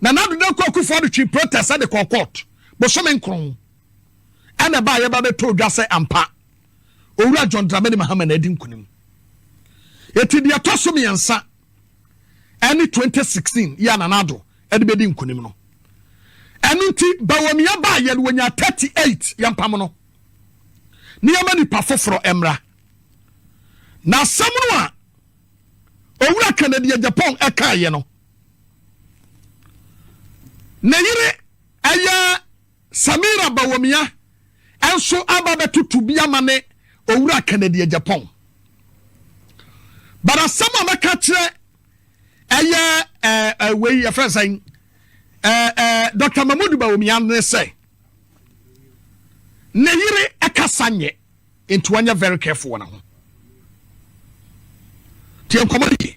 Nana Ado Dankwa Akufo-Addo twee protest de kɔɔ court bosome nkron ɛna ɛbaa yɛba bɛtɔɔ dwa sɛ ampa Owura John Dramani Mahama na adi nkunim. Eti deɛ ɛtɔ so mmiɛnsa ɛne 2016 yɛ a Nana Ado ɛde bɛdi nkunim no. Ɛno nti Bawumia baa yɛ no wɔnya 38 yɛmpam no ne yɛma nipa foforɔ mmra. Na asɛm no a Owura ka na deɛ Japan kaeɛ no, ne yere ɛyɛ Samira Bawumia nso aba abɛtoto bi ama ne Owura ka na deɛ Japan. But asɛm a mɛka kyerɛ ɛyɛ ɛɛ ɛɛ wei yɛ fɛn sɛn ɛɛ ɛɛ Dr. Mahmoud Bawumia ne sɛ ne yere ɛkasa nyɛ. Nti wanyɛ very careful wɔ naho. Tie nkɔmɔ no yie.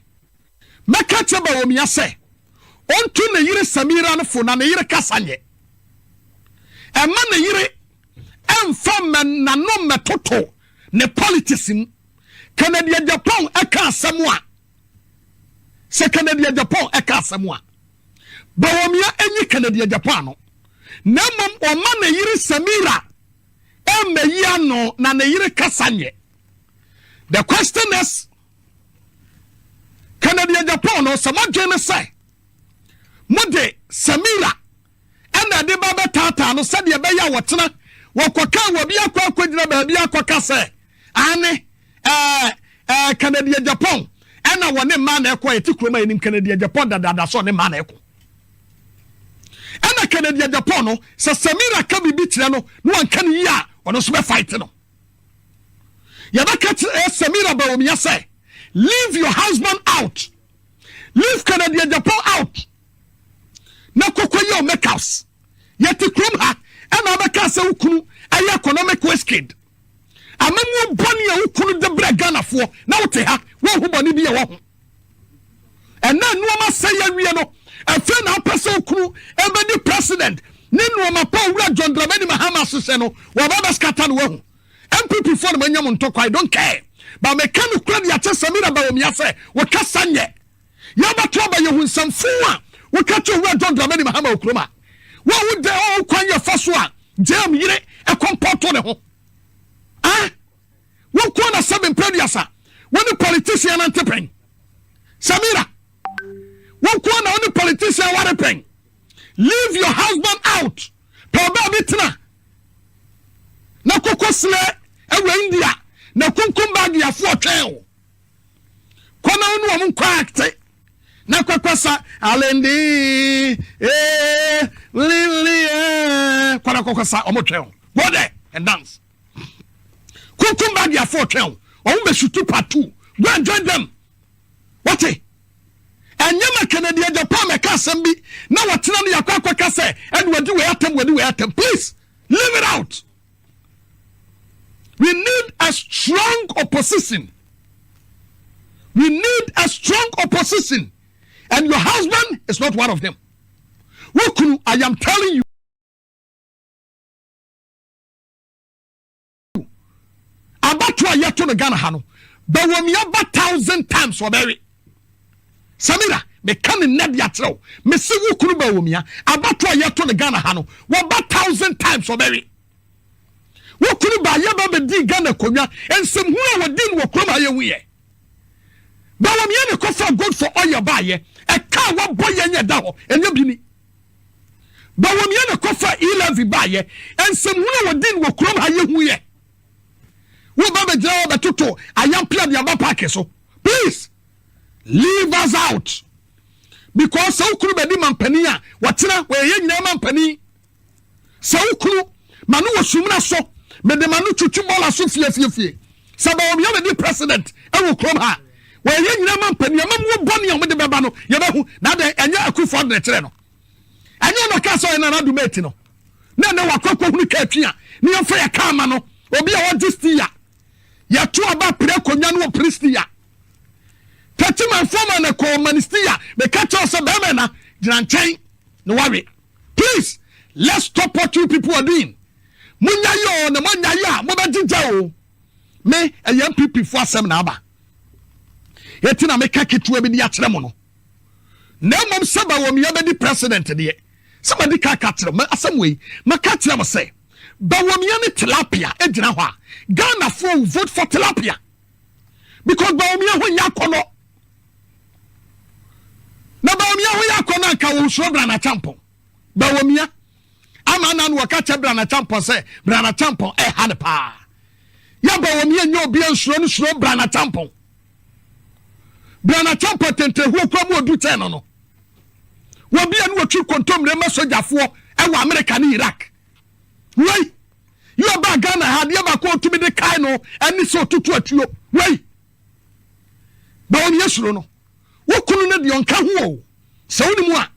Mɛka akyerɛ Bawomia sɛ ɔntu ne yere Samira no fo na ne yere kasa nyɛ. Ɛmma ne yere ɛmfa mmɛ n'ano mmɛtoto ne politics mu. Kennedy Agyapong ɛka asɛm a, sɛ Kennedy Agyapong ɛka asɛm a, Bawomia ɛnyi Kennedy Agyapong ano. Na mmom ɔma ne yere Samira ɛmɛyi ano na ne yere kasa nyɛ the question is kennedy japan no sɛ madwen ne sɛ mode samira ɛna ɛde ba bɛtaataa no sɛdeɛ ɛbɛyɛ a wɔtena wɔkɔka wɔ bi akɔ akɔgyina baabi akɔka sɛ ane ɛɛ ɛɛ kennedy japan ɛna wɔne mmaa na ɛkɔ ɛte kurom a ɛnim kennedy japan dadaada sɛ ɔne mmaa na ɛkɔ Ɛna Kennedy Agyapong no, sɛ Samira ka biribi kyerɛ no na wanka no yie a, ɔno nso bɛfight no. Yɛbɛka kyerɛ eh, Samira Bawumia sɛ, leave your husband out. Leave Kennedy Agyapong out. Na kɔkɔ yɛ o makeups. Yɛte kurom ha, ɛna abɛka sɛ wo kunu ɛyɛ economic wicked. Amamuo bɔne a wo kunu de brɛ Ghanafoɔ na wote ha, woanhu bɔne bi a ɛwɔ ho. Ɛnna nnoɔma asɛe awie no, afei na wopɛ sɛ okunu ɛbɛdi president ne nnoɔma pa owura John Dramani Mahama ahyehyɛ no, wɔaba bɛskata no wahu. NPP foɔ no manya mo ntɔkwa, I don't care. But meka no kura de akyɛ Samira Bawumia sɛ, wo kasa nyɛ. Yɛn abatoɔ aba yɛ hu nsɛm fuu a wotwa to Owura John Dramani Mahama wɔ kurom a wɔahu dɛ ɔho kwan yɛ fa so a JM yere ɛkɔ mpɔ to ne ho. Ah! Wo nkoa na sɛbe mpɛ aduasa wo ne politician nante pɛn. Samira! Wo nkoa na wo ne politician ware pɛn. Leave your husband out. Pɛ ɔbaa bi tena. Na koko slɛ ɛwura India na kunkum baagiafoɔ twɛn o. Kɔ na wone wɔn nkɔ akte na kɔkɔ sa alende ee lili ee kɔ na kɔkɔ sa wɔn twɛn go there and dance kunkum baguiafo twɛn wɔn bɛ sutu part two go and join them wɔte ɛnyɛ ma kennedy japan mɛka asɛm bi na wɔtena no yɛakɔ akɔka sɛ ɛne wadi wei atam wadi wei atam please leave it out We need a strong opposition. We need a strong opposition. And your husband is not one of them. Wokunu, I am telling you. Abato a yɛto no Ghana ha no, bɛwɔ me aba thousand times ɔbɛwe. Samira, meka ne nnɛ de akyerɛ wo, mese wo kunu baa wɔmia. Abatoɔ a yɛto no Ghana ha no, wɔba thousand times ɔbɛwe. Wo kunu baa yɛba bɛdii Ghana akonnwa, nsɛmhunu a wɔdii no wɔ kurom ha yɛhuiɛ. Baa wɔmia ne kɔfa gold for oil baayɛ, ɛka a wɔbɔ yɛn yɛ da hɔ, ɛnyɛ bi ni. Baa wɔmia ne kɔfa E-levy baayɛ, nsɛmhunu a wɔdii no wɔ kurom ha yɛhuiɛ. woba bɛgyina hɔ bɛtoto ayapia de aba paaki so please leave us out because sɛ wo kunu bɛdi mampanin a wɔtena wɔyɛ nyinaa mampanin sɛ wo kunu ma no wɔ sumina so mede ma no twitwi bɔla so fiefiefie sɛ bɛwɔmea na di president ɛwɔ kurom ha wɔyɛ nyinaa mampanin ama mu bɔne a wɔde bɛba no yɛbɛhu na dɛ ɛnyɛ akufo ɔdene kyerɛ no ɛnyɛ na ɔka sɛ ɔyɛ nana do mate no na ɛnɛ wakɔ akɔhunu ka atwi a ne yɛmfa yɛ ka ama no obi a ɔgye stiya yɛto aba pere akonnwa no ɔpere stiya tɛti ma mfoma na kɔ ɔma ne stiya meka kyɛw sɛ bɛrima na gyina nkyɛn na wawe please let's stop what you people are doing munya yɛ o na monya yɛ a mobɛgyegya o me ɛyɛ mpp fo asɛm na aba ɛti na meka ketewa bi de akyerɛ mo no na mmom sɛ Bawumia bɛdi president deɛ, sɛ madi kan ka kyerɛ mo asɛm wei, mɛka kyerɛ mo sɛ Bawumia ne tilapia gyina hɔ a, Ghanafoɔ will vote for tilapia because Bawumia ho nyɛ akɔnɔ. Na Bawumia ho yɛ akɔnɔ anka wɔn soro Brana Champon. Bawumia ama na no wɔka kyerɛ Brana Champon sɛ Brana Champon ɛha ne paa. Yɛ Bawumia nyɛ obi nsoro no soro Brana Champon. Brana Tampɔ Tentehuo kwan mu odu kyɛn no no, wɔbia ne wɔtwi kontommire ma sogyafoɔ wɔ Amerika ne Iraq. Wei yi ɔbaa Ghana ha adeɛ baako a ɔtumi de kae no ɛne sɛ ɔtutu atuo. Wei bɛwɔ ne yɛsuro no, wo kunu no deɛ ɔnka ho o. Sɛ wo nim a,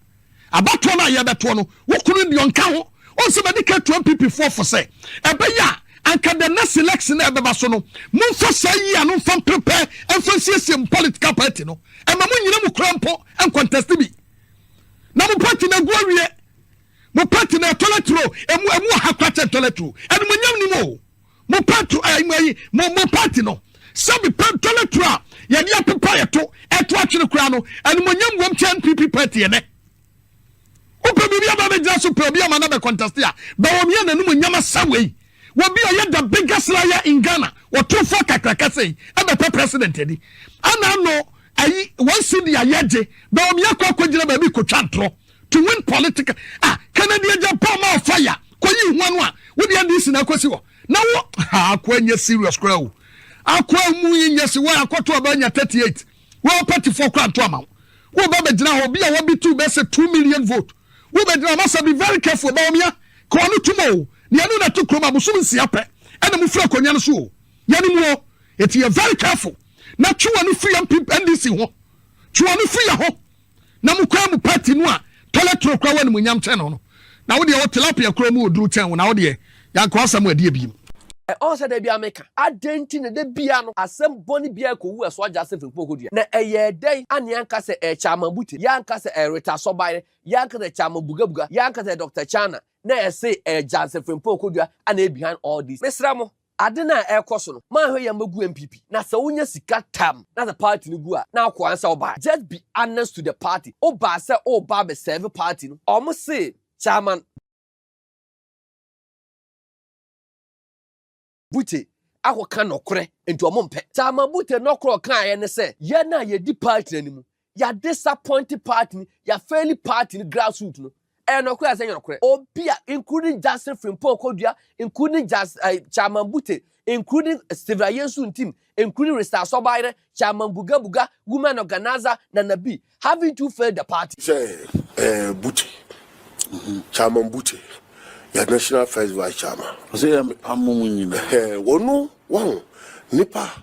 abatoɔ no a yɛbɛtoɔ no, wo kunu deɛ ɔnka ho. Ɔn sɛ bɛdi ka to NPP foɔ fo sɛ, ɛbɛyɛ a anka the next election a ɛbɛba so no, momfa saa year no mfa mprepare mfa nsiesie mo political party no. Ɛma mo nyina mu koraa mpo ncontest bi. Na mo party no agu awie. Mo party no ɛtɔlɛtro, ɛmu ɛmu ɔha koraa kyɛn tɔlɛtro. Animonyam nim o. Mo pantu a ɛmu ayi mo mo panti no, sɛbi pantole turo a yɛde apepa yɛ to ɛto atwene koraa no, animonyam wom kyɛn NPP panti ɛnɛ. Wopɛ biribi aba bɛgyina so pɛ obi ama no abɛ conteste a, bawom yɛ n'animonyam asa wei. Wɔbi a ɔyɛ the biggest liar in Ghana, ɔtorofoɔ kakraka sei, ɛbɛpɛ president adi. Ana ano ayi wɔn CD a yɛgye, bawom yɛkɔ akɔgyina baabi kɔtwa ntorɔ. To win political ah Kennedy agya pa ma fire kɔ yi ho ano a wo de NDC na akosi hɔ na wo ha akɔ nyɛ serious kora o akɔ mu yi nyɛ se wɔ akɔto aba nya 38 wɔ party fo kora nto ama wo ba bɛgyina hɔ bi a wɔbi tu bɛsɛ 2 million vote wo bɛgyina ɔma sɛ be very careful ba ɔmia kɔ ɔno tum o deɛ ɛno na ɛto kurom abosom nsia pɛ ɛna mu fura akonnwa no so o yɛne mu o ɛti yɛ very careful na twe wɔn firi NDC ho twe wɔn firi yɛ ho na mo kwan mu party no a toilet roll kura w'animuonyam kyɛn no no na wodeɛ wo tilapia kura mu oduru kyɛn wo na wodeɛ yanka w'asɛm ɛdeɛ biem. Ɔn sɛ da biara meka. Adɛn nti na da biara no asɛm bɔne biara ɛkɔwu ɛso agya asɛ Frimpong kɔdua? Na ɛyɛɛ dɛn ane anka sɛ ɛyɛ Chairman Bute, yɛ anka sɛ ɛyɛ Rita Asɔbayerɛ, yɛ anka sɛ ɛyɛ Chairman Buga Buga, yɛ anka sɛ ɛyɛ Doctor Chana na ɛse ɛyɛ Gya Asɛ Frimpong kɔdua ane behind all this? Mesrɛ mo, Ade no a ɛrekɔ so no maa Hweyama gu NPP. Na sɛ wonya sika tam na sɛ party no gu a, na akoa ansa wobae. Just be honest to the party. Wobaa sɛ woreba abɛ serve party no? Wɔn se Chairman. Bute akɔka nɔkorɛ nti wɔn mpɛ. Chairman Bute nɔkorɛ ɔkaeɛ ne sɛ yɛn a yɛdi party no anim Yɛ a disappoint party no, yɛ a fail party no grassroot no. Ɛyɛ nɔkorɛ asɛ nyɛ nɔkorɛ. Obi a including Justin Frimpong Kodua, including Just, uh, Chairman Bute, including Stephen Ayensu Ntim, including Risa Asɔbayerɛ, Chairman Buga Buga, women organizer Nana B, haven't you failed the party? Sɛ eh, Bute, Chairman Bute, yɛ national first vice chairman. Ɔsɛ yɛ pamo mu nyina. Eh, wɔno, wɔn, nipa.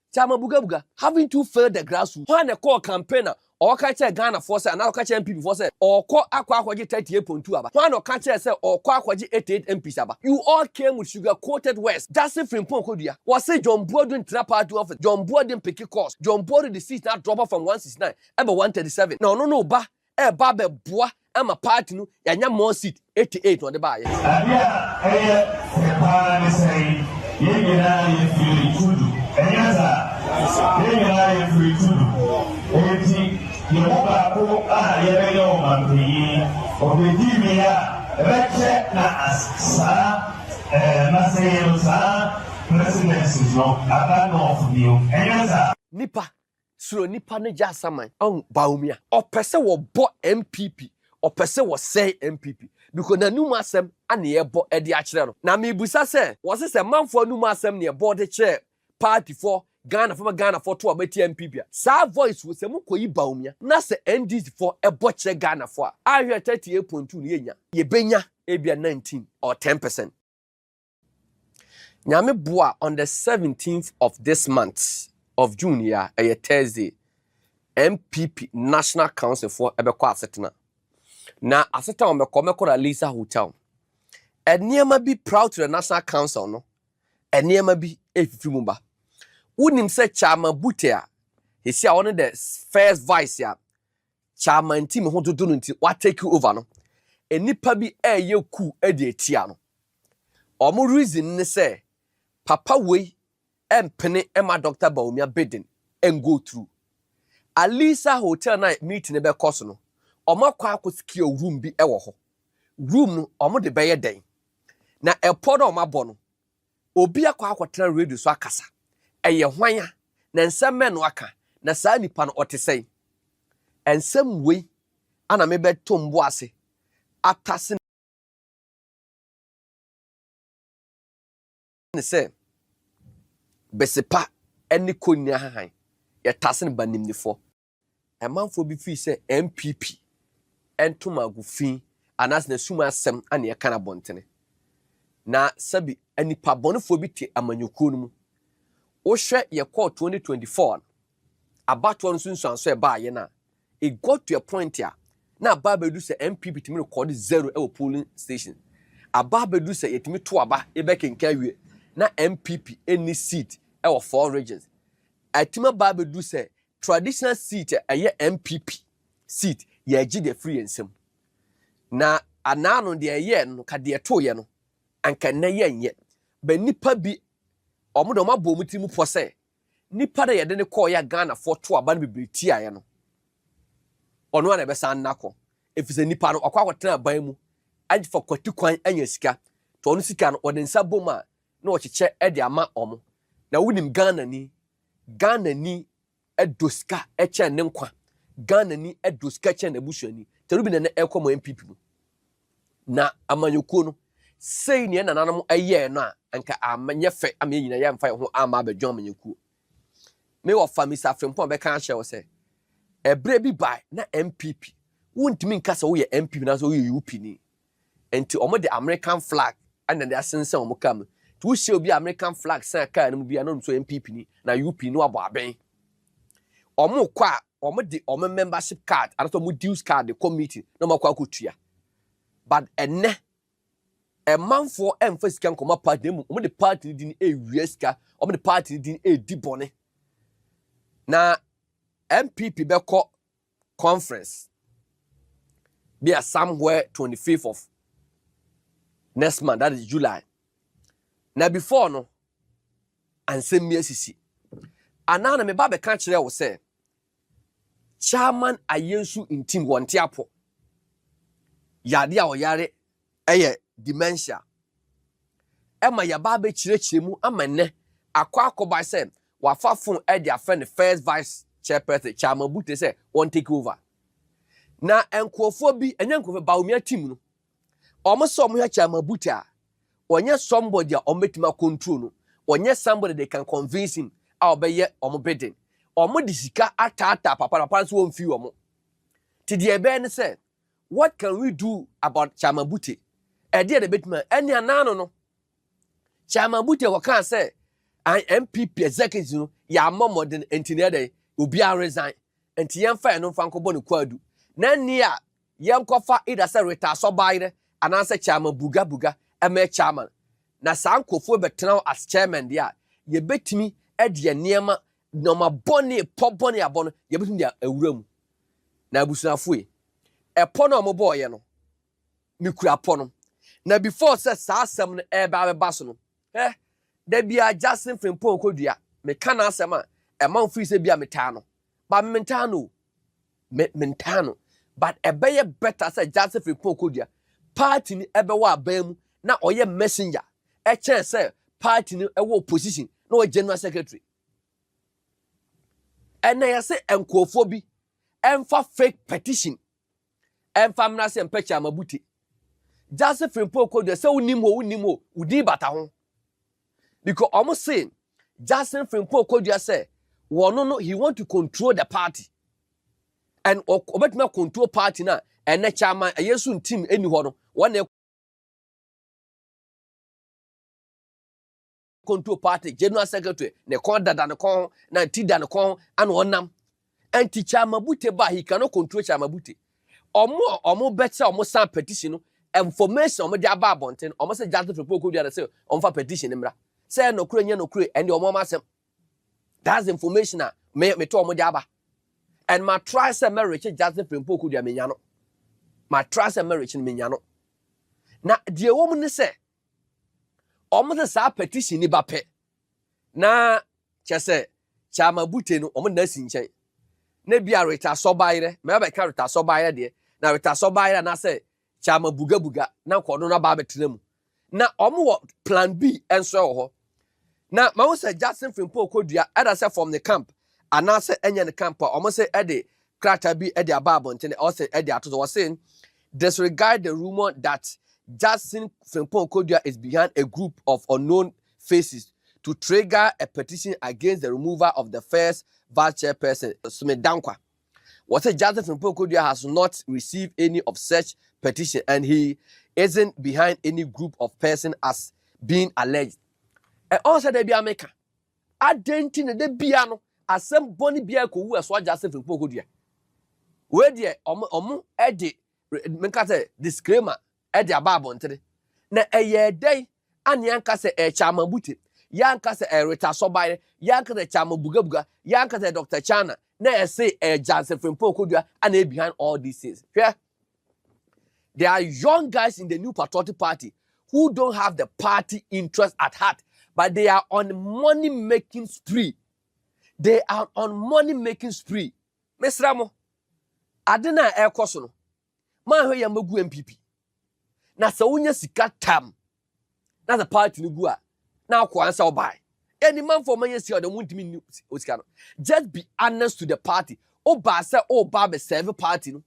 Tama Bugabuga having too failed the grass root, hwan na ɛkɔɔ campaign a ɔɔka kyerɛ Ghana foɔ sɛ, anaa ɔka kyerɛ NPP foɔ sɛ, ɔɔkɔ akɔ akɔgye 38.2 aba, hwan na ɔka kyerɛ sɛ ɔɔkɔ akɔgye 88 MPs aba, you all came with sugar coated words, Gyasi Frimpong Kodua, wɔse John Boadu ntra party office, John Boadu mpeke course, John Boadu de seat no adrɔbɔ from 169 ɛba 137, na ɔno ne wo ba ɛreba abɛboa ama party no yɛanya more seat, 88 na ɔde baeɛ. Adeɛ a ɛyɛ fɛ paa ne sɛ yɛn nyinaa yɛfiri Tudu, ɛnyɛ saa? Yɛn nyinaa yɛfiri Tudu, enti yɛn mu baako a yɛbɛyɛ ɔmanpanyin, ɔbɛdi mi a ɛbɛkyɛ na as saa ɛɛ masɛyɛ no saa presidencies no aba North bio, ɛnyɛ saa? Nnipa Suro nnipa no gya asaman. Ɔho Bawumia ɔpɛ sɛ wɔbɔ NPP ɔpɛ sɛ wɔsɛe NPP because n'anum asɛm na yɛbɔ de akyerɛ no na mebisa sɛ wɔse sɛ manfoɔ anum asɛm na yɛbɔ de kyerɛ partyfoɔ Ghanafoɔ ma Ghanafoɔ to aba tia NPP a saa voice wɔ sɛ mokɔyi Bawumia na sɛ NDCfoɔ bɔ kyerɛ Ghanafoɔ a ahwɛ 38.2 no yɛnya yɛbɛnya ebia 19 or 10 percent. Nyame boa on the seventeenth of this month of June yi a, ɛyɛ Thursday, NPP National Council foɔ ɛbɛkɔ asetena. Na asetena wɔn bɛkɔ, wɔbɛkɔ na Lisa Hotel. Nneɛma bi proud to the National Council no, nneɛma bi ɛfifiri mu ba. Wonim sɛ Kyama Bute a, ɛsi a ɔne the first vice a, Kyaama nti me ho dodo no nti wa take over no nnipa bi ɛyɛ ku ɛde atia no ɔmo reason ne sɛ papa wei ɛmpene ɛma Doctor Bawumia bidding ɛngo through Alisa hotel no a meeting no bɛkɔ so no ɔmo akɔ akɔ secure room bi ɛwɔ hɔ room no ɔmo de bɛyɛ dɛn na ɛpɔ no a ɔmo abɔ no Obi akɔ akɔtena radio so akasa. Ɛyɛ hwan a, na nsɛm bɛn na waka, na saa nipa no, ɔte sɛn? Nsɛm wei a na mebɛto mbo ase ata sene sɛ bese pa ne konya hahan, yɛta sene banimnifoɔ. Amanfoɔ bi firi sɛ NPP ntom agu fi anaasɛ n'asum asɛm na ɛka no abɔntene. Na sɛbi nnipa bɔnefoɔ bi te amanyɔkuo no mu. Wohwɛ yɛkɔɔ 2024 no, abatoɔ no nso nsuanso a ɛbaeɛ no a, it got to a point a na aba abɛdu sɛ NPP tumi rekɔde zero wɔ polling station. Aba abɛdu sɛ yɛtumi to aba yɛbɛkenkan awie na NPP ɛnni seat wɔ four regions. Atumi aba abɛdu sɛ Traditional seat a ɛyɛ NPP seat yɛgye deɛ firi yɛn nsam na anaa no deɛ ɛyɛɛ no ka deɛ ɛtoo yɛ no anka nnɛ yɛ nyɛ bɛ nnipa bi ɔmo de ɔmo abɔ ɔmo tiri mu pɔ sɛ nnipa na yɛde ne kɔɔ yɛ a Ghana foɔ to aba no bebree tiaeɛ no ɔno a na ɛbɛsan nna kɔ efisɛ nnipa no ɔkɔ akɔtena aban mu afa kwati kwan anya sika to ɔno sika no ɔde nsa bom a na ɔkyekyɛ de ama ɔmo na wonim Ghana ni Ghana ni dɔ sika kyɛn ne nkwa. Ghana ni dɔ sika kyɛn n'abusuani. Terubin na ɛnɛ ɛkɔ mo NPP mu. Na amanyɔkuo no, sei neɛ nananom ɛyɛɛ no a, anka anyɛ fɛ ama yɛn nyina yɛ amfa yɛn ho ama abɛdwo amanyɔkuo. Me wɔfa Mr. Frimpong bɛka akyerɛ wo sɛ, ɛberɛ bi bae na NPP, wontumi nka sɛ woyɛ NPP anaasɛ woyɛ UP ni. Nti ɔmo de American flag na de asensɛn ɔmo car mu. Nti wo hyia obi a American flag sɛn car no mu bi a na onim sɛ ɔyɛ NPP ni na UP na wabɔ abɛn. Ɔmo kɔ a ɔmo de ɔmo membership card anaasɛ ɔmo dues card de kɔ meeting na ɔmo akɔ akɔtua. But ɛnɛ ɛmanfoɔ ɛmfa sika nkɔma party na mmom ɔmo de party no din ɛwia sika, ɔmo de party no din ɛdi bɔne. Na NPP bɛkɔ conference bi a somewhere twenty fifth of next month that is july na before no ansɛm bi asisi anaa na meba bɛka kyerɛ wo sɛ chairman ayɛ nsu ntim wɔnte apɔ yade a ɔyare Ɛyɛ dementia. Ɛma yɛaba abɛkyerɛkyerɛ mu ama nnɛ akɔ akɔba sɛ wɔafa phone de afrɛ no first vice chairperson Chairman Bute sɛ wɔn take over. Na nkurɔfoɔ bi, ɛnyɛ nkurɔfoɔ, Bawumia team no, wɔn sɛ wɔn hwɛ Chairman Bute a, wɔnyɛ somebody a wɔn bɛtumi akontrol no, wɔnyɛ somebody they can convince him a wɔbɛyɛ wɔn bidding. Wɔn de sika ataataa papa na papa nso wɔn mfii wɔn. Ti deɛ ɛbɛyɛ ne sɛ, What can we do about Chairman Bute? Ɛdeɛ na ɛbɛtumi a ɛne anaano no. Chairman Bute wɔkaa sɛ NPP executives no yɛammɔ mmɔden nti na ɛdɛn obiara resign nti yɛmfa ɛno mfa nkɔbɔ no kwaadu na ɛnneɛ a yɛnkɔfa either sɛ Rita Asɔbaayerɛ anaasɛ Chairman Buga Buga ɛmɛ chairman na saa nkurɔfoɔ bɛtena hɔ as chairman deɛ a yɛbɛtumi ɛdeɛ nneɛma Nneɛma bɔne, pɔ bɔne a abɔ no, yɛbɛtumi de awura mu. Na abusuafo yi, ɛpɔ no a wɔbɔɔyɛ no, mekura pɔ no. Na before sɛ saa asɛm no ɛreba abɛba so no, hɛ, da biara Jackson Frimpong Kodua, meka n'asɛm a, ɛma wo feel sɛ bi a metaa no. But me mentaa no o. me mentaa no but ɛbɛyɛ better sɛ Joseph Mpɔn Kodua party ni ɛbɛwɔ aban mu na ɔyɛ messenger ɛkyɛn sɛ party ni ɛwɔ opposition na ɔyɛ general secretary ɛnna yɛse nkurɔfoɔ bi ɛmfa fake petition ɛmfa mmra sɛ mpɛ Kyamabute Joseph Mpɔn Kodua sɛ wonim hɔ wonim hɔ wodin bata ho because ọmụ sị Jackson Frimpong kodua sɛ wɔn no he want to control the party and ɔbɛtumi akontrol party no a ɛnɛ chairman ɛyɛ nso ntim ɛni hɔ no wɔn na control party general secretary ne kɔn dada ne kɔn na ti da ne kɔn ana ɔnam Ɛnti Kyamabute ba he cannot control Kyamabute. Ɔmo a ɔmo bɛkyɛ ɔmo sign petition no information ɔmo de aba abɔnten no ɔmo se Justice Frimpong Koduada se ɔmo fa petition no mmra. Sɛ ɛyɛ nɔkore nyɛ nɔkore ɛnde ɔmo ɔmo asɛm. That's the information a me me to ɔmo de aba. And ma try sɛ mɛ rekye Justice Frimpong Koduada me nya no. Ma try sɛ mɛ rekye no me nya no. Na deɛ ɛwɔ mu ne sɛ ɔmo se saa petition ni ba pɛ na kyerɛ sɛ Kyama Bute no wɔn da si nkyɛn na ebi a Rita Sɔbaayerɛ mɛba bɛka Rita Sɔbaayerɛ deɛ na Rita Sɔbaayerɛ anaasɛ Kyama Bugabuga na nkɔ no na ba abɛtena mu na wɔn wɔ plan B nso wɔ hɔ na mahu sɛ Jackson Frimpong Kodua ɛda sɛ fam ne camp anaasɛ ɛnyɛ ne camp a wɔn sɛ ɛde krataa bi ɛde aba abɔnten ɔsɛ ɛde ato so wɔsɛ disregard the rumour that Jackson Frimpong Kodua is behind a group of unknown faces to trigger a petition against the removal of the first vice chairperson Sumit Dankwa. Wɔse Joseph Mpokodua has not received any of such petition and he isn't behind any group of person as being alleged. Ɛwɔ sɛ da biara meka adɛn nti na da biara no asɛm bɔne biara kɔwu ɛsoa Joseph Mpokodua. Wei deɛ ɔmo ɔmo ɛde menka sɛ disclaimer de aba abɔntene. Na ɛyɛɛ dɛn? Anne anka sɛ ɛrekyɛ ama Bute, yɛanka sɛ ɛyɛ Rita Sobaire, yɛanka sɛ ɛkyɛ ama Bugabuga, yɛanka sɛ ɛyɛ Doctor Chana, na ɛse ɛyɛ Janse Frimpong Kodua ana ɛyɛ behind all these things. Hwɛ! There are young guys in the New Patriotic Party who don't have the party interest at heart, but they are on money making spree. They are on money making spree. Mesrɛ mo, ade no a ɛrekɔ so no, manhwɛ yɛ magu npp na sɛ wonya sika tam na sɛ party no gu a na akɔ ansa ɔbae ɛni manfo ɔmanya sika ɔdɛ wontumi nni osika no just be honest to the party wobaa sɛ woba abɛsɛve party no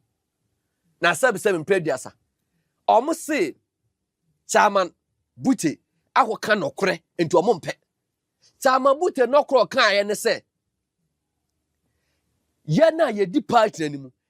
na sɛbe sɛ mempɛ aduasa ɔmo se chairman bute akɔka nɔkorɛ nti ɔmo mpɛ chairman bute nɔkorɛ ɔkaeɛ ne sɛ yɛn a yɛdi party no anim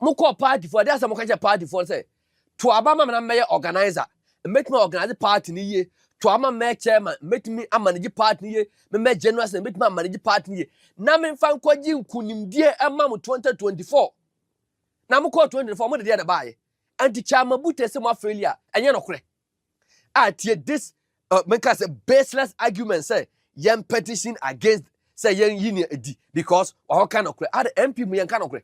mokɔɔ party fo a ɛdeɛ asɛ moka kyerɛ party fo sɛ to aba ma me na mɛyɛ organizer mɛtumi organize party no yie to ama mɛ chairman mɛtumi amanage party no yie memɛ general sɛ mɛtumi amanage party no yie na memfa nkɔgye nkonimdie ɛma mo 2024 na mokɔɔ 2024 mo de deɛ na baayɛ anti kyama bute sɛ mo afeeli a ɛnyɛ nokorɛ a tie this uh, menka sɛ baseless argument sɛ yɛn petition against sɛ yɛn yi ne adi because wɔka nɔkorɛ ada mp mu yɛnka nɔkorɛ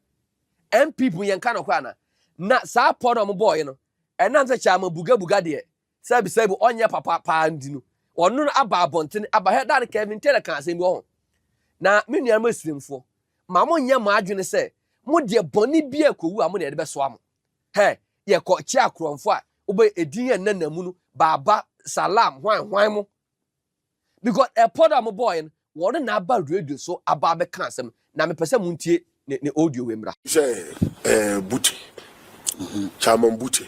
mp mu yɛnka nɔkorɛ ana na saa pɔ na wɔn bɔɔyɛ no ɛnam sɛ kyama bugabuga deɛ sɛbi sɛbi ɔnyɛ papa paa nti no ɔno no aba abɔnten aba hɛ daade kevin taylor kan asɛm bi wɔ ho na me nuanom asirimfoɔ ma mo nyɛ mo adwene sɛ mo deɛ bɔne bi a ɛkɔwu a mo na yɛde bɛsoa mo Hɛ, yɛkɔ kyerɛ akorɔmfo a wobɛ edin yɛ nna na mu no, baaba, salam, hwan hwan mo. Because ɛpɔ da mo bɔɔyɛ no, wɔne na aba radio so aba abɛka asɛm no, na mepɛ sɛ montie ne ne audio wei mmra. Sɛ eh, Bute, Chairman Bute,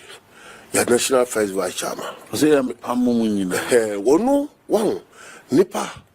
yɛ National First Vice Chairman. Ɔsɛ yɛ mepam mo nyinaa. Wɔno, wahu, nipa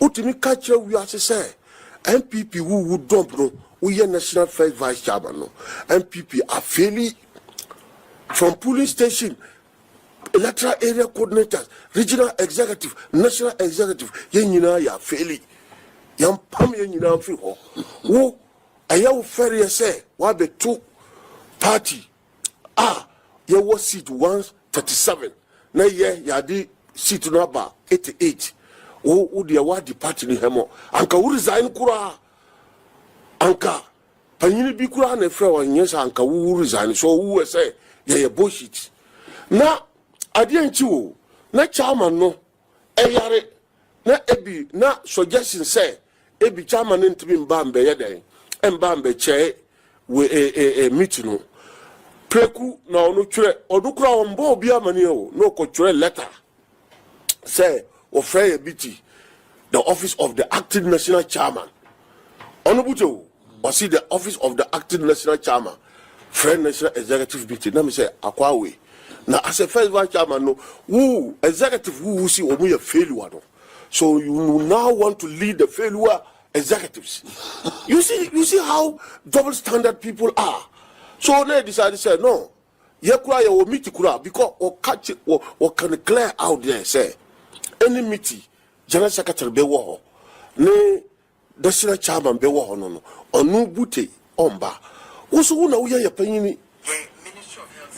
Wotumi ka kyerɛ wiase sɛ NPP wuwu Dump no woyɛ national first vice chairman no NPP afeeli From polling station electoral area coordinators regional executive national executive yɛn nyinaa yɛ afeeli yɛmpam yɛn nyinaa mfiri hɔ wo ɛyɛ wo fɛreɛ sɛ woabɛto party a yɛwɔ seat one thirty seven na yɛ yɛade seat no aba eighty eight wo wo deɛ woadi party no hɛmɔ anka wo resign koraa anka panyini bi koraa na ɛfrɛ wɔn nyɛ sɛ anka wo wo resign so wo wɔ sɛ yɛyɛ bullshit na adeɛ nkyi wo na chairman no ɛyare na ebi na suggestion sɛ ebi chairman no ntumi mba mbɛyɛ dɛn mba mbɛkyɛɛ we e e e meet no preku na ɔno twerɛ ɔno kura ɔmbɔ obi amaneɛ o na ɔkɔ twerɛ letter sɛ wɔfrɛ yɛ bi ti the office of the acting national chairman ɔno bute o Ɔse the office of the acting national chairman frɛ national executive meeting na me sɛ akwaa wei na as a first vice chairman no wo executive wo wo si ɔmo yɛ failure no so you now want to lead the failure executives you see you see how double standard people are so na yɛ decide sɛ no yɛ kura yɛ wɔ meeting kura because ɔka kye wɔ ɔka no clear out there sɛ any meeting general secretary bɛ wɔ hɔ ne Bɛsrɛ Chairman bɛ wɔ hɔ no no ɔno Bute ɔmba wo so wo na woyɛ yɛ panyini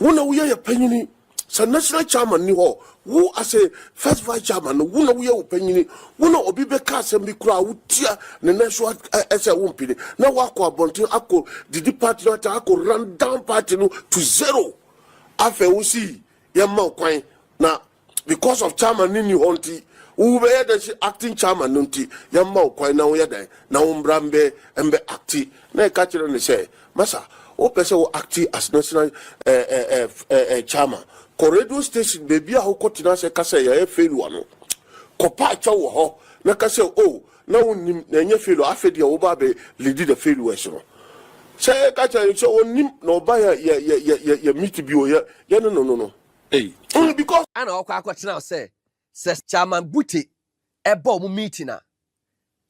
wo na woyɛ yɛ panyini sɛ National Chairman ni hɔ wo as a First Vice Chairman no wo na woyɛ wo panyini wo na obi bɛka asɛm bi koraa a wotia ne nan so sɛ wo mpene na woakɔ abɔnten akɔ didi party no atɛn akɔ run down party no to zero afei wo si yɛmma wo kwan na because of chairman no ni hɔ nti wowu bɛyɛ dɛ sɛ acting chairman no nti yɛmma wo kwan na woyɛ dɛn na wo mbra mbɛ mbɛ acti na ɛka kyerɛ no sɛ masa wopɛ sɛ wo acti as national eh, eh, eh, eh, eh, chairman kɔ radio station baabi a wokɔ tena sɛ ka sɛ yɛyɛ failure no kɔpa atwa wɔ hɔ na ka sɛ o oh, na wonnim na ɛnyɛ failure afei deɛ woba bɛ lidi the failures no sɛ ɛka kyerɛ no sɛ ɔnnim na ɔba yɛ yɛ yɛ yɛ yɛ meet bio yɛ yɛ no no no no Ɛna wɔkɔ akɔtena hɔ sɛ sɛ Chairman Bute ɛbɔ wɔn meeting a,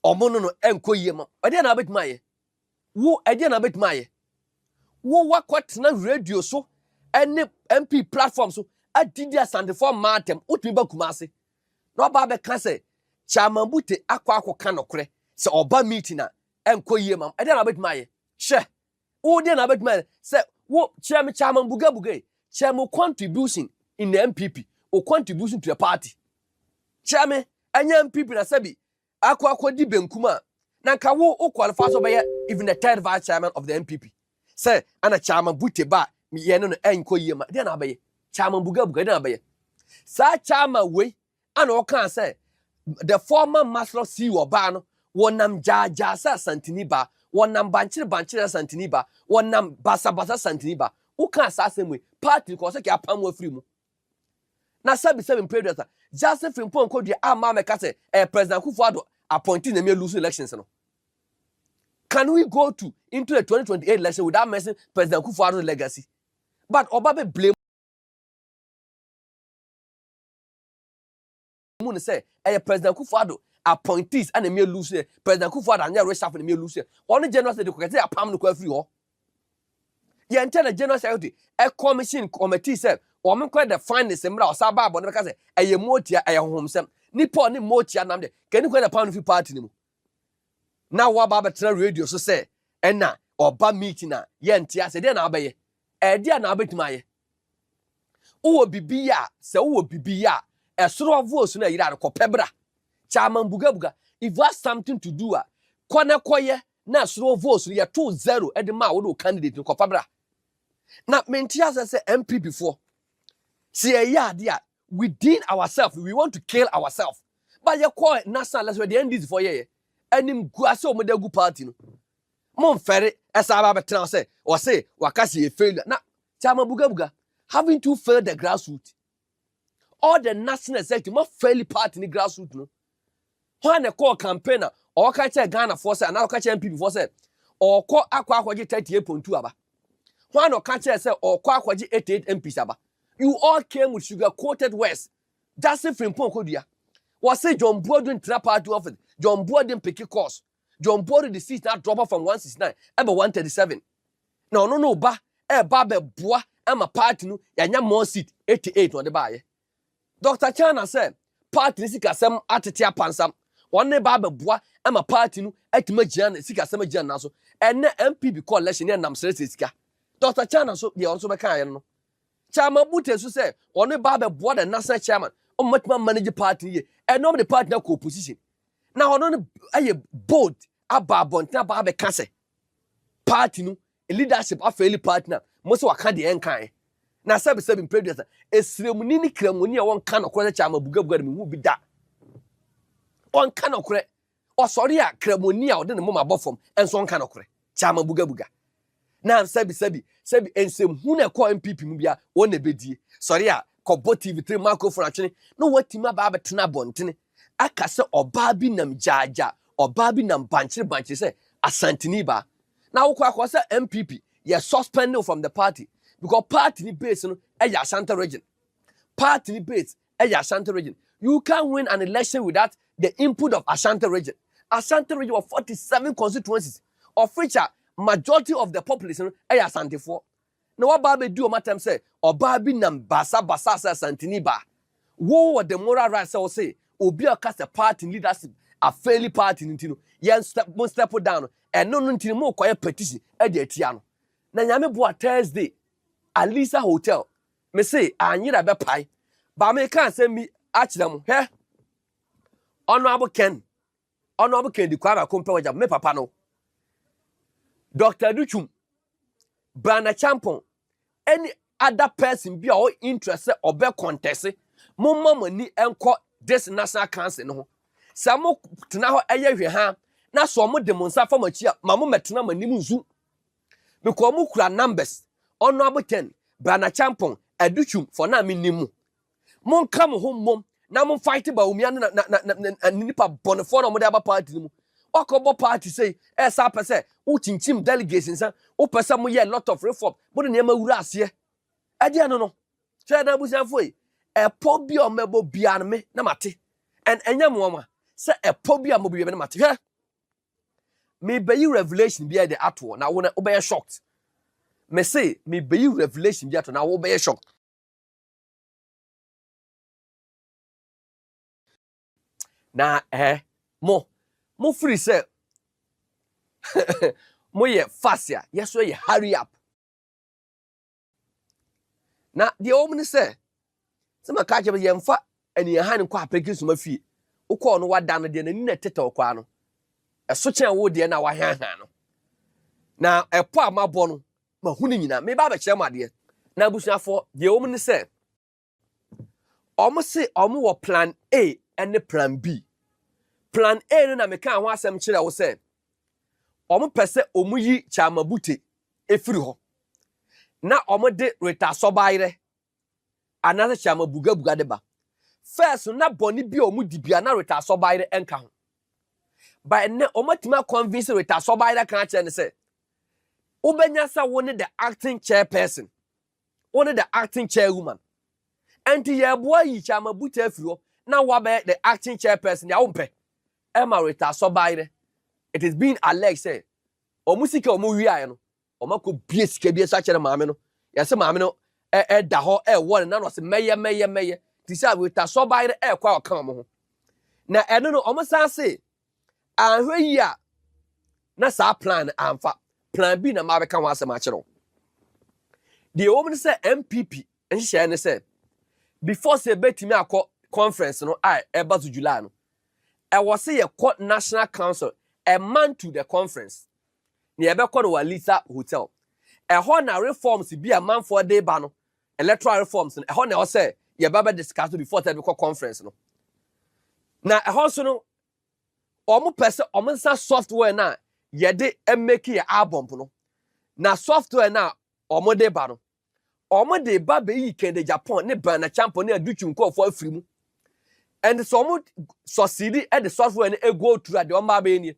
wɔn no no ɛnkɔ yie ma. Ɛdeɛ na wobɛtumi ayɛ? Wo ɛdeɛ na wobɛtumi ayɛ? Wo wakɔtena radio so ɛne MP platform so adidi asantefoɔ mmaa atɛm wotumi ba Kumase na waba abɛka sɛ Chairman Bute akɔ akɔka nokorɛ sɛ ɔba meeting a ɛnkɔ yie ma. Ɛdeɛ na wobɛtumi ayɛ? Hyɛ! Wo deɛ na abɛtumi ayɛ sɛ wo kyerɛ me Chairman Buga Buga yi kyerɛ me contribution in the MPP wo contribution to the party kyerɛ me ɛnyɛ MPP na sɛbi akɔ akɔ di benkum a na nka wo wo qualify so bɛyɛ even the third vice chairman of the MPP sɛ ana Chairman Bute ba yɛ no no ɛnkɔ yie ma deɛ na abɛyɛ Chairman Buga Buga deɛ na abɛyɛ saa Chairman wei Ɛna ɔkaa sɛ, The former Maslow see ɔbaa no, wɔnam gyaagyaa sɛ asantini baa, wɔnam bankyere bankyere sɛ asantini baa, wɔnam basabasa asantini baa. Wokaa saa asɛm wei, Patrick ɔsɛ kɛ apam wo afiri mu. Na sɛbi sɛbi mprɛdua sa, Justin Frimpong kɔdua a maa mɛka sɛ ɛyɛ President Akufo Addo appointee na ɛmɛ lose elections no. Can we go to into the 2028 election without mentioning President Akufo-Addo's legacy? But Obabe blame. mu no sɛ ɛyɛ president akufo ado appointees ɛna mmea lose yɛ president akufo ado anyɛ reshuffle na mmea lose yɛ ɔne general secretary kɔkɛtɛ yɛ apam no kɔ afiri hɔ yɛn nkyɛn na general secretary ɛkɔmmission committee sɛ wɔn nkɔ the finest mmerɛ a ɔsan baa bɔ no bɛka sɛ ɛyɛ motia ɛyɛ honhomsɛm nipa ɔne motia nam de kɛne kɔ na apam no fi party no mu na wɔaba abɛtena radio so sɛ ɛna ɔba meeting a yɛnte ase deɛ na abɛyɛ ɛdeɛ na abɛtumi ayɛ Wowɔ bibi ya, sɛ wowɔ bibi ya, ɛsoro ɔvoɔ su na yira no kɔpɛ bra. Kyama mbugabuga, if you have something to do a, kɔ na kɔyɛ na ɛsoro ɔvoɔ su no yɛtoo zero de maa wo ne wo candidate no kɔfa bra. Na mente asɛ sɛ NPP foɔ, sɛ yɛyɛ ade a, within ourselves, we want to kill ourselves. Ba yɛkɔ national election, the NDC foɔ yɛyɛ, anim gua sɛ wɔn de agu party no. Mo nfɛre ɛsan ba bɛtena hɔ sɛ wɔse waka sɛ yɛ failure na sɛ ama bugabuga haven't you failed the grassroot all the national executive ma fail party ne grassroot no hɔ a na ɛkɔɔ campaign na ɔka kyɛ Ghana foɔ sɛ anaa ɔka kyɛ NPP foɔ sɛ ɔkɔ akɔ akɔgye 38.2 aba hɔ a na ɔka kyɛ sɛ ɔkɔ akɔgye 88 MPs aba you all came with sugar coated words dase firi mpɔn kodua wɔse John Buodu ntena party office John Buodu mpeke course John Bori de seat no adrɔ aba from 169 ɛba 137 na ɔno ne ɔba ɛba abɛboa ama party no yɛanya more seat 88 na ɔde baayɛ Dr. Chana sɛ party no sikasɛm atete apansam wɔn ne ba abɛboa ama party no atumi agyina ne sikasɛm agyina nna so ɛnɛ MPB kɔ election ne ɛnam srɛsrɛ sika Dr. Chana nso deɛ ɔno nso bɛkaeɛ no Chama Bute nso sɛ ɔne ba abɛboa the national chairman ɔmatumi amanage party no yie ɛnɛ ɔmde party no akɔ opposition na ɔno no ayɛ bold aba abɔnten aba abɛka sɛ party no leadership afɛli party na mo sɛ waka deɛ ɛnkae na sɛbisɛbi mpreduasa esremuni ne kramoni a wɔnka nɔkorɛ sɛ kyama bugabuga no mehu bi da ɔnka nɔkorɛ ɔsɔre a kramoni a ɔde ne moma bɔ fam ɛnso ɔnka nɔkorɛ kyama bugabuga na sɛbi sɛbi sɛbi nsɛm hu na ɛkɔ npp mu bia wɔn na ɛbɛdie sɔre a kɔbɔ tv tiri microphone atwene na wɔatumi aba abɛtena abɔntene aka sɛ ɔbaa bi nam gyaagya ɔbaa bi nam bankyere bankyere sɛ asantini baa na wokɔ akɔ sɛ npp yɛ suspending from the party because party ni base no ɛyɛ ashanti region party ni base ɛyɛ Asante region. You can't win an election without the input of Asante region. Asante region wɔ 47 constituencies of which a majority of the population no ɛyɛ Asantefoɔ. Na waba abɛdi wɔn atɛm sɛ ɔbaa bi nam basabasa sɛ Asanteni baa. Wo wɔ the moral right sɛ wo se obi a ɔka sɛ party leadership afeeli party no nti no yɛn step mo step down no ɛno no nti no mo kɔyɛ petition ɛde atia no. Na nyame boa Thursday Alisa hotel Me se anyera bɛpae. Ba meka asɛm bi akyerɛ mo. Hwɛ. Honorable Ken. Honorable Ken di Kwame Akompɛ wagya me papa no. Dr. Duchum. Brana Champon. Any other person bi a ɔ interest sɛ ɔbɛ contest. Mo mma mo ani nkɔ this national council no ho. Sɛ mo tena hɔ ɛyɛ hwɛ ha na sɛ ɔmo de mo nsa fa mo akyi a ma mo mɛtena mo anim nsu. mekɔ ɔmo kura numbers honourable ten branakyampɔn adutwum for na menni mu monka mo ho mmom na mo fight baomia no na na na na nipa bɔnefoɔ na ɔmo de aba party no mu wakɔbɔ party sei ɛsa apɛ sɛ wokyinkyim delegates nsa wopɛ sɛ moyɛ lot of reform mode nneɛma wura aseɛ ɛdeɛ no no kyerɛ na abusuafoɔ yi ɛpɔ bi a ɔmɛbɔ biara no me na mate and ɛnyɛ mmoanwa sɛ ɛpɔ bi a mɔbɔ biara me na mate hwɛ Mebeyi revelation bi de ato na wo na wobɛyɛ shocked. Me se mebeyi revelation bi ato na wobɛyɛ shocked. Na eh mo mo firi sɛ mo yɛ fast a yɛso yɛ hurry up. na deɛ ɛwɔ mu ne sɛ sɛ maka akyerɛ sɛ yɛmfa aniahan nkɔ apɛrɛkiri soma fie wokɔɔ no wada no deɛ n'ani na ɛtetɛ ɔkɔa no ɛso kyɛn wo deɛ na wahanhan no na ɛpɔ a mabɔ no mahu no nyinaa meba abɛkyerɛ mu adeɛ na abusuafoɔ deɛ ɛwɔ mu ne sɛ wɔn se wɔn wɔ plan A ne plan B. Plan A no na mekaa ho asɛm kyerɛ wo sɛ wɔn pɛ sɛ wɔn yi Kyama Bute efiri hɔ na wɔn de Rita Asɔbaayerɛ anaasɛ Kyama Bugabuga de ba. First no na bɔne bi a wɔn di bia na Rita Asɔbaayerɛ nka ho. By ɛnɛ wɔn atumi akɔnvinsi Rita Asɔbaayerɛ kan akyerɛ ne sɛ wobɛnya sɛ wo ne the acting chairperson. Wo ne the acting chairwoman. Ɛnti yɛboa yi Kyama Buta afiri hɔ na wabɛyɛ the acting chairperson nea wompɛ. Ɛma Rita Asɔ bae nɛ. It is being alleged sɛ wɔn sika a wɔwiaeɛ no, wɔakɔbue sika bi nso akyerɛ maame no. Yɛse maame no ɛ ɛda hɔ ɛwɔ ne nan ɔse mɛyɛ mɛyɛ mɛyɛ. Nti sɛ Rita Asɔ bae no ɛkɔ a ɔka wɔn ho. Na ɛno no wɔsan se Anhwɛ yie a, na saa plan no amfa. Plan B na mabɛka ho asɛm akyerɛ wo. Deɛ ɛwɔ mu ne sɛ NPP nhyehyɛeɛ ne sɛ before sɛ ɛbɛtumi akɔ conference no a ɛba so July no, ɛwɔ sɛ yɛkɔ National Council ɛman to the conference na yɛbɛkɔ no wɔ Alisa Hotel. Ɛhɔ na reforms bi a manfoɔ de ba no Electoral reforms no ɛhɔ na ɛwɔ sɛ yɛba bɛ discuss no before sɛ ɛbɛkɔ conference no. Na ɛhɔ nso no wɔn pɛ sɛ wɔn nsa software no a yɛde make yɛ album no na software no a wɔn de ba no wɔn de ba bɛyi kɛndɛ japan ne bana champo ne adutu nkurɔfoɔ afiri mu and sɛ wɔn succeed de software no go through a deɛ wɔn ba bɛyɛ nie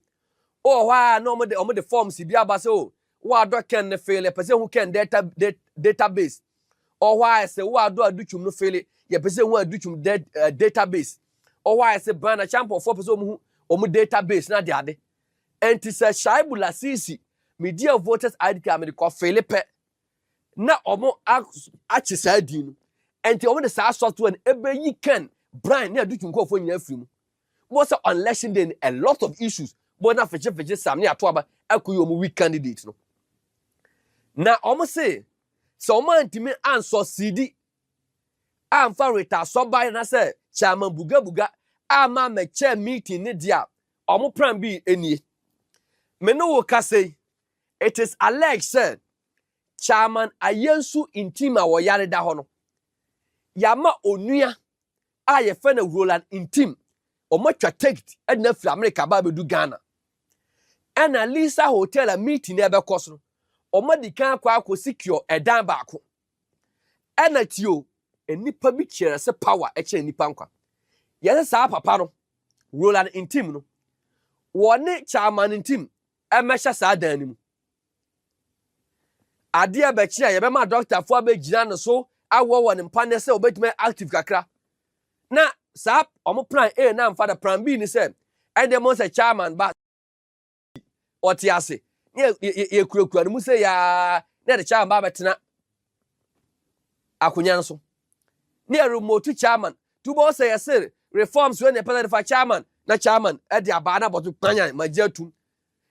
wɔ hɔ a na wɔn de wɔn de forms bi aba sɛ o Woadɔ kɛn ne fele, yɛpɛ sɛ hu kɛn data, dat, database. Ɔhɔ a ɛsɛ woadɔ adutwum no fele, yɛpɛ sɛ hu adutwum dat, uh, database. Ɔhɔ a ɛsɛ ban na kyampɔfoɔ pɛ sɛ wɔn hu wɔn database na de ade. Ɛnti sɛ Shaibu Lasisi, medi a voters ID card mede kɔ fele pɛ na wɔn akye saa din no. Ɛnti wɔn de saa software no ɛbɛyi kɛn, bran ne adutwum kɔfoɔ nyinaa firi mu. Bɔ sɛ on election day no a lot of issues bɔ na fegyefegye Sam ne Atuaba ako yɛ wɔn weak candidate no. Na wɔn se sɛ wɔn antumi ansɔ CD amfa Rita Asɔbae anaasɛ Chairman Bugabuga ama amɛkyɛ meeting ne deɛ a wɔn plan bi nie. Me ne wo kasa yi, it is alleged sɛ Chairman Ayansu ntim a wɔyare da hɔ no, yɛama onua a yɛfrɛ no Roland Ntim. Wɔatwa tekit de no afiri Amerika aba abɛdu Ghana. Ɛna Lisa Hotel a meeting no ɛbɛkɔ so no, wɔadi kan akɔ akɔ secure ɛdan baako. Ɛna tio, nnipa bi kyerɛ no sɛ power kyerɛ nnipa nkwa. Yɛsɛ saa papa no, Roland Ntim no, wɔne Chairman Ntim ɛmɛhyɛ saa dan no mu. Adeɛ a ɛbɛkye a yɛbɛma dɔktafoɔ abɛgyina no so awɔ wɔn mpa ne sɛ wɔbɛtumi active kakra na saa wɔn plan A na mfa da plan B ne sɛ ɛndeɛ mo sɛ chairman ba ɔte ase ne yɛkurakura no mu sɛ yɛa na yɛde chairman ba bɛtena akonnwa no so ne yɛ remote chairman tubɔ sɛ yɛse reforms wei ne ɛpɛ sɛ de fa chairman na chairman ɛde abaa na bɔto kpanyan magye atum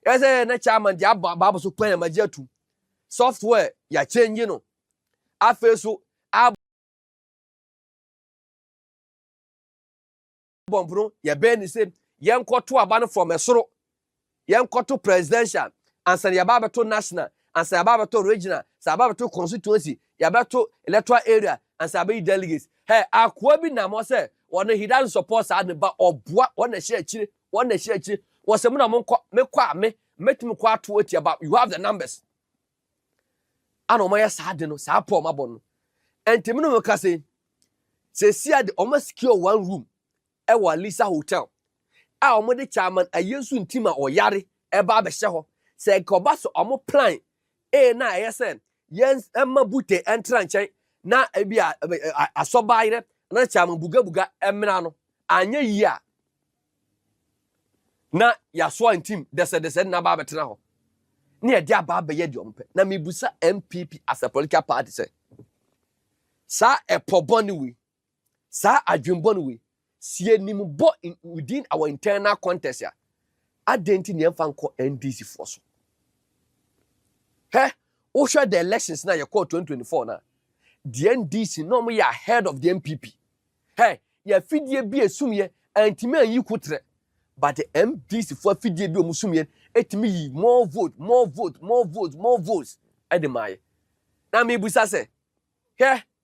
Yɛ sɛ na chairman de aba baabo so pɛn na magye atum. Software ya change no. Afei so a bomb no yɛ bɛn ne sɛ yɛnkɔto aba no from ɛsoro. Yɛnkɔto presidential ansa na yɛba abɛto national ansa na yɛba abɛto regional sɛ aba abɛto constituency yɛbɛto electoral area ansa abɛyi delegates. Hɛ akoa bi nam hɔ sɛ wɔn he doesn't support saa ne ba ɔboa wɔn na ɛhyɛ akyire. wɔn na ɛhyɛ akyire wɔ sɛ mu na monkɔ mekɔ a me mɛtumi kɔ ato atia ba you have the numbers ana wɔayɛ saa de no saa pɔ wɔn abɔ no ɛntɛmi no wɔka sɛ sɛsi ade wɔn secure one room ɛwɔ alisa hotel a wɔn de chairman ayɛ nso nti ma ɔyare ɛba abɛhyɛ hɔ sɛ nka ɔba so wɔn plan Ee, na ɛyɛ sɛ yɛmma bute ntra nkyɛn na ebi a asɔbaayerɛ na kyama bugabuga mmra no. Anyɛ yie a, na yɛasoa ntim dɛsɛdɛsɛ na aba abɛtena hɔ ne yɛde aba abɛyɛ deɛ ɔmo pɛ. Na mebusa NPP as a political party sɛ, saa ɛpɔ bɔne wei, saa adwenbɔne wei, sɛ yɛnim bɔ within our internal context a, adɛn nti na yɛmfa nkɔ NDC foɔ so? Hɛ, wohwɛ the elections na yɛkɔɔ 2024 no a, the NDC na wɔyɛ ahead of the NPP. Hɛ, yɛ afidie bi a ɛsumyɛ antumi anyi kotrɛ, but the NDC foɔ afidie bi a wɔn sumyɛ ɛtumi yi more vote, more vote, more vote, more votes ɛde maa yɛ. Na mebusa sɛ, hɛ,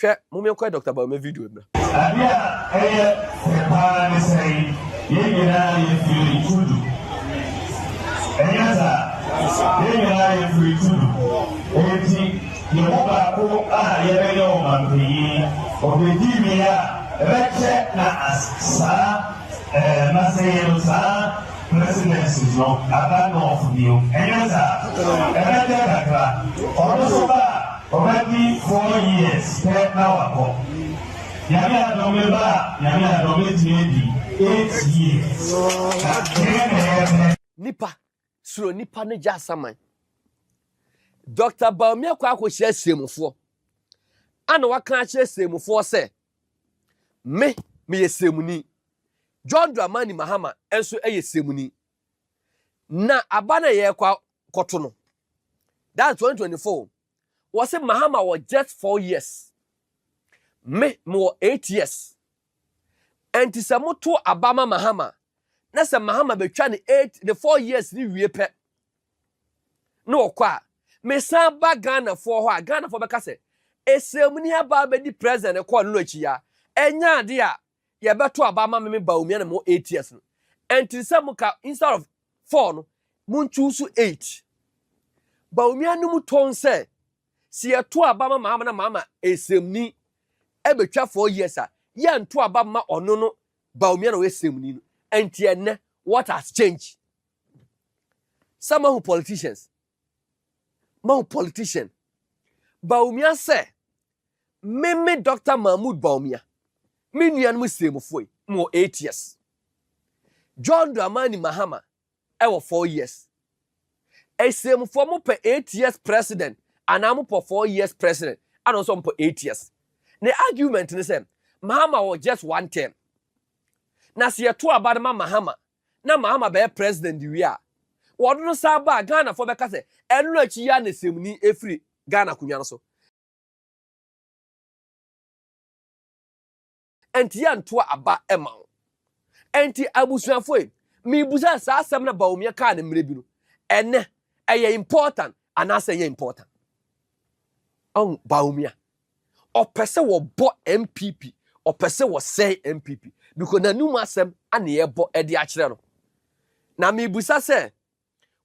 Hwɛ, momenkɔyɛ Doctor Bawumia video mmra. Adeɛ a ɛyɛ fɛ paa ne sɛ yɛn nyinaa yɛ firi tudu. Ɛnyɛ saa? Yɛn nyinaa yɛ firi tudu. Enti yɛn mu baako a yɛbɛyɛ ɔmanpanyin, ɔbɛdi mi a, ɛbɛkyɛ na as saa ɛɛ masɛyɛ no saa presidency no aba North bio. Ɛnyɛ saa? Ɛbɛkyɛ kakra. Ɔno nso ba a. Ɔbɛdi four years pɛ na wakɔ. Nyame adom me ba a Nyame adom bɛtumi adi eight years kakra pɛɛpɛ. Nipa suro nipa no gya asaman. Doctor Bawumia kɔ akɔhyia Sremufoɔ ana waka akyerɛ Sremufoɔ sɛ me meyɛ Sremuni, John Dramani Mahama nso yɛ Sremuni. Na aba na yɛkɔ akɔto no. That's 2024. Wɔse Mahama wɔ just four years. Me mewɔ eight years. Enti sɛ moto aba ma Mahama na sɛ Mahama betwa ne eight ne four years ne wie pɛ na ɔkɔ a mesan ba Ghanafoɔ hɔ a Ghanafoɔ bɛka sɛ Esremuni aba abɛdi president kɔɔ no akyi ya ɛnyɛ ade a yɛbɛto aba ama me me Bawumia na mewɔ eight years no ɛnten sɛ mo ka instead of four no mo ntwiw so eight Bawumia no mu tɔn sɛ sɛ yɛto aba ma maama na maama esremni ɛbɛtwa four years a yɛnto aba ma ɔno no Bawumia na ɔyɛ sremni no ɛnti ɛnɛ what has changed sɛ mahu politicians mahu politician Bawumia sɛ Me me Dɔkta Mahmoud Bawumia, me nuanom sramufoɔ yi, me wɔ eight years. John Dramani Mahama wɔ four years. Asramufoɔ mo pɛ eight years president anaa mo pɔ four years president ana nso mo pɔ eight years. Ne argument ne sɛ Mahama wɔ just one term. Na sɛ yɛto aba no ma Mahama na Mahama bɛyɛ president de wie a, wɔde no san ba a Ghanafoɔ bɛka sɛ ɛno akyi yi a na sramuni efiri Ghana akonnwa no so. ɛnti yɛntoa aba ma wo ɛnti abusuafo yi mebusa saa asɛm no baomia kaa no mmerɛ bi no ɛnɛ ɛyɛ important anaasɛ ɛyɛ important ɔn baomia ɔpɛ sɛ wɔbɔ npp ɔpɛ sɛ wɔsɛe npp because n'anum asɛm ana yɛbɔ ɛde akyerɛ no na mebusa sɛ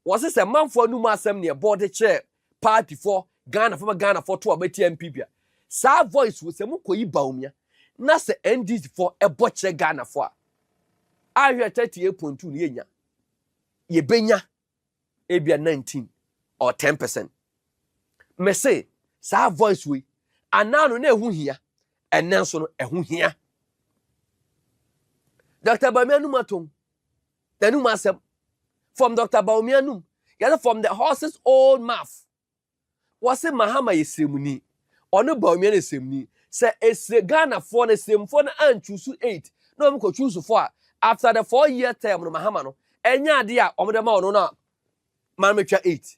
Wɔse sɛ manfo anum asɛm ne ɛbɔ de kyerɛ party fɔ Ghana fɔ ma Ghana fɔ to a ɔbɛtia NPP a saa voice wo sɛ mokɔ yi Bawumia na sɛ NDC fɔ ɛbɔ kyerɛ Ghana fɔ a ahwɛ 38.2 no yɛnya yɛbɛnya ebia 19 or 10 percent mese saa voice wei anaa no na ɛho hia ɛnɛ nso no ɛho hia Dr. Bawumia no matɔn N'anom asɛm. From Doctor Bawumia anum. Yɛsɛ from the horse's own mouth. Wɔse Mahama yɛ sremuni. Ɔne Bawumia ne sremuni. Sɛ esre Ghanafoɔ no, sremfoɔ no anchuusu eight na wɔn kɔ chuusu four a, after the four year term no Mahama no, ɛnyɛ adeɛ a wɔn de ma ɔno no a, ma no metwa eight.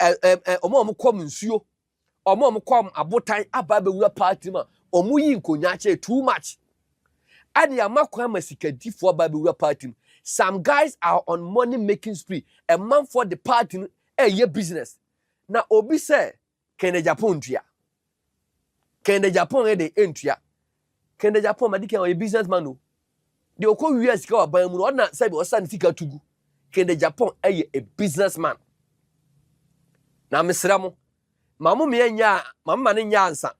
wɔn a wɔkɔm nsuo wɔn a wɔkɔm abotan aba abɛwura party ma wɔn yi nkonyaa kyɛ too much ɛde ama kwan ma sikadifoɔ aba abɛwura party mu some guys are on money making spree ɛmanfoɔ de party no ɛyɛ business na obi sɛ Kɛndɛ Japan ntua. Kɛndɛ Japan yɛ dɛ ntua. Kɛndɛ Japan madi kan ɔyɛ business man o. Deɛ ɔkɔ wia sika wɔ aban mu no ɔna sɛbi ɔsa ne sika to gu. Kɛndɛ Japan yɛ a business man. Na mesrɛ mo ma mo mmea nyɛ a ma mo ma no nyɛ ansa.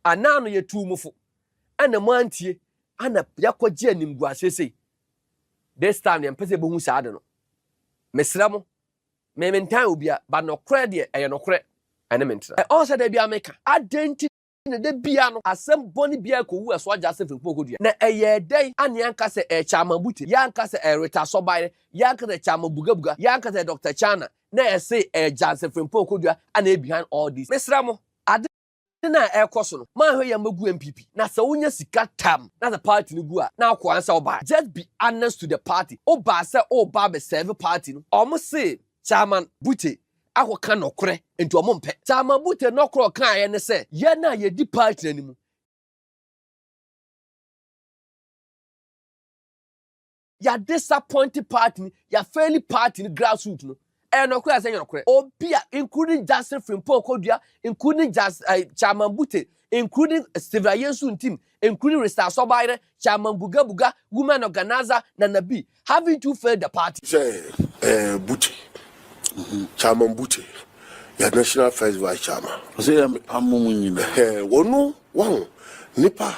Ana ano yɛ tuu mo fo ɛna mo antie ana yɛakɔgye animguaseɛ sei. This time deɛ mpɛ sɛ yɛbɛhu saa ade no. Mesrɛ mo Me mentan obia but nokorɛ deɛ ɛyɛ nokorɛ ɛne me ntena. Ɔn sɛ da bia meka adɛn nti na da bia no asɛm bɔne bia ɛkɔwu ɛso agya sɛ firi kpɔnkɔ dua na ɛyɛɛ dɛn ane anka sɛ ɛyɛ Kyama Bute yɛ anka sɛ ɛyɛ Rita Asɔbaeɛ yɛ anka sɛ Kyama Bugabuga yɛ anka sɛ ɛyɛ Doctor Chana na ɛse ɛyɛ Gyanse firi mpɔnkɔ dua ana ɛyɛ behind all this mesrɛ mo ade Ɔhene a ɛrekɔ so no manhwɛ yɛ magu NPP na sɛ wonya sika tam na sɛ party no gu a na akoa ansɛ wobae just be honest to the party wobaa sɛ woreba abɛ serve party no ɔmo se Chairman Bute akɔ ka nɔkorɛ nti ɔmo mpɛ Chairman Bute nɔkorɛ a ɔkaeɛ ne sɛ yɛn a yɛdi party no anim yɛ disappoint party ni yɛ fail party ni grassroot no ɛyɛ nɔkorɛ asɛ nyɛ nɔkorɛ obi a including Justin Frimpong Kodua including Jas uh, Chairman Bute including Stephen Ayesu Ntim including Rista Asɔbayerɛ Chairman Buga Buga women organizer Nana B haven't you failed the party. sɛ ɛɛ Bute Chairman Bute yɛ national first vice chairman. ɔsɛ yɛ amom nyina. wɔn no wɔn nipa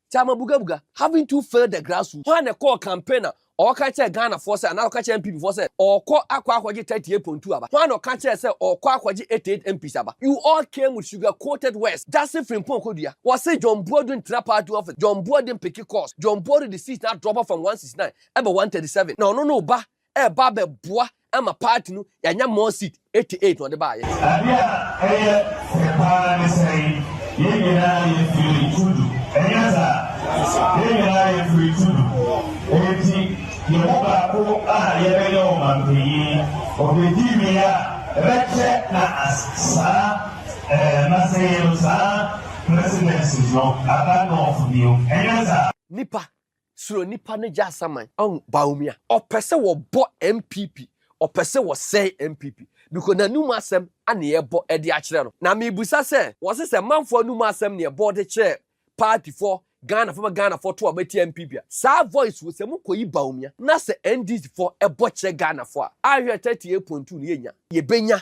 Tama Bugabuga, having too failed the grassroots, hɔ a na ɛkɔɔ campaign a ɔɔka kyerɛ Ghanafoɔ sɛ anaa ɔka kyerɛ NPP foɔ sɛ ɔɔkɔ akɔ akɔgye 38.2 aba, hɔ a na ɔka kyerɛɛ sɛ ɔɔkɔ akɔgye 88 MPs aba. You all came with sugar coated words, Gyasi Frimpong Kodua, wɔse John Boadu ntena party office, John Boadu mpeke course, John Boadu de seat no adrɔpo from 169 ɛba 137, na ɔno ne wo ba ɛreba abɛboa ama party no yɛanya more seat, 88 na ɔde baeɛ. Adeɛ a ɛyɛ fɛ paa ne sɛ yɛn nyinaa yɛfiri Tudu, ɛnyɛ saa? Yɛn nyinaa yɛfiri Tudu, enti yɛn mu baako a yɛbɛyɛ ɔmanpanyin, ɔbɛdi wie a, ɛbɛkyɛ na as, saa ɛɛ Maseye no, saa presidency no aba North bio, ɛnyɛ saa? Nnipa Suro nnipa no gya asaman. Ɔho Bawumia. Ɔpɛ sɛ wɔ bɔ NPP. Ɔpɛ sɛ wɔ sɛe NPP. Because n'anum asɛm na yɛ bɔ de akyerɛ no. Na me busa sɛ, wɔ se sɛ manfoɔ anum asɛm na yɛ bɔ de kyerɛ party foɔ, Ghana foɔ ma Ghana foɔ to a bɛtia NPP a, saa voice wɔ sɛ mo kɔ yi Bawumia na sɛ NDC foɔ bɔ kyerɛ Ghana foɔ a, ahwɛ 38.2 no yɛ nya. Yɛ bɛ nya.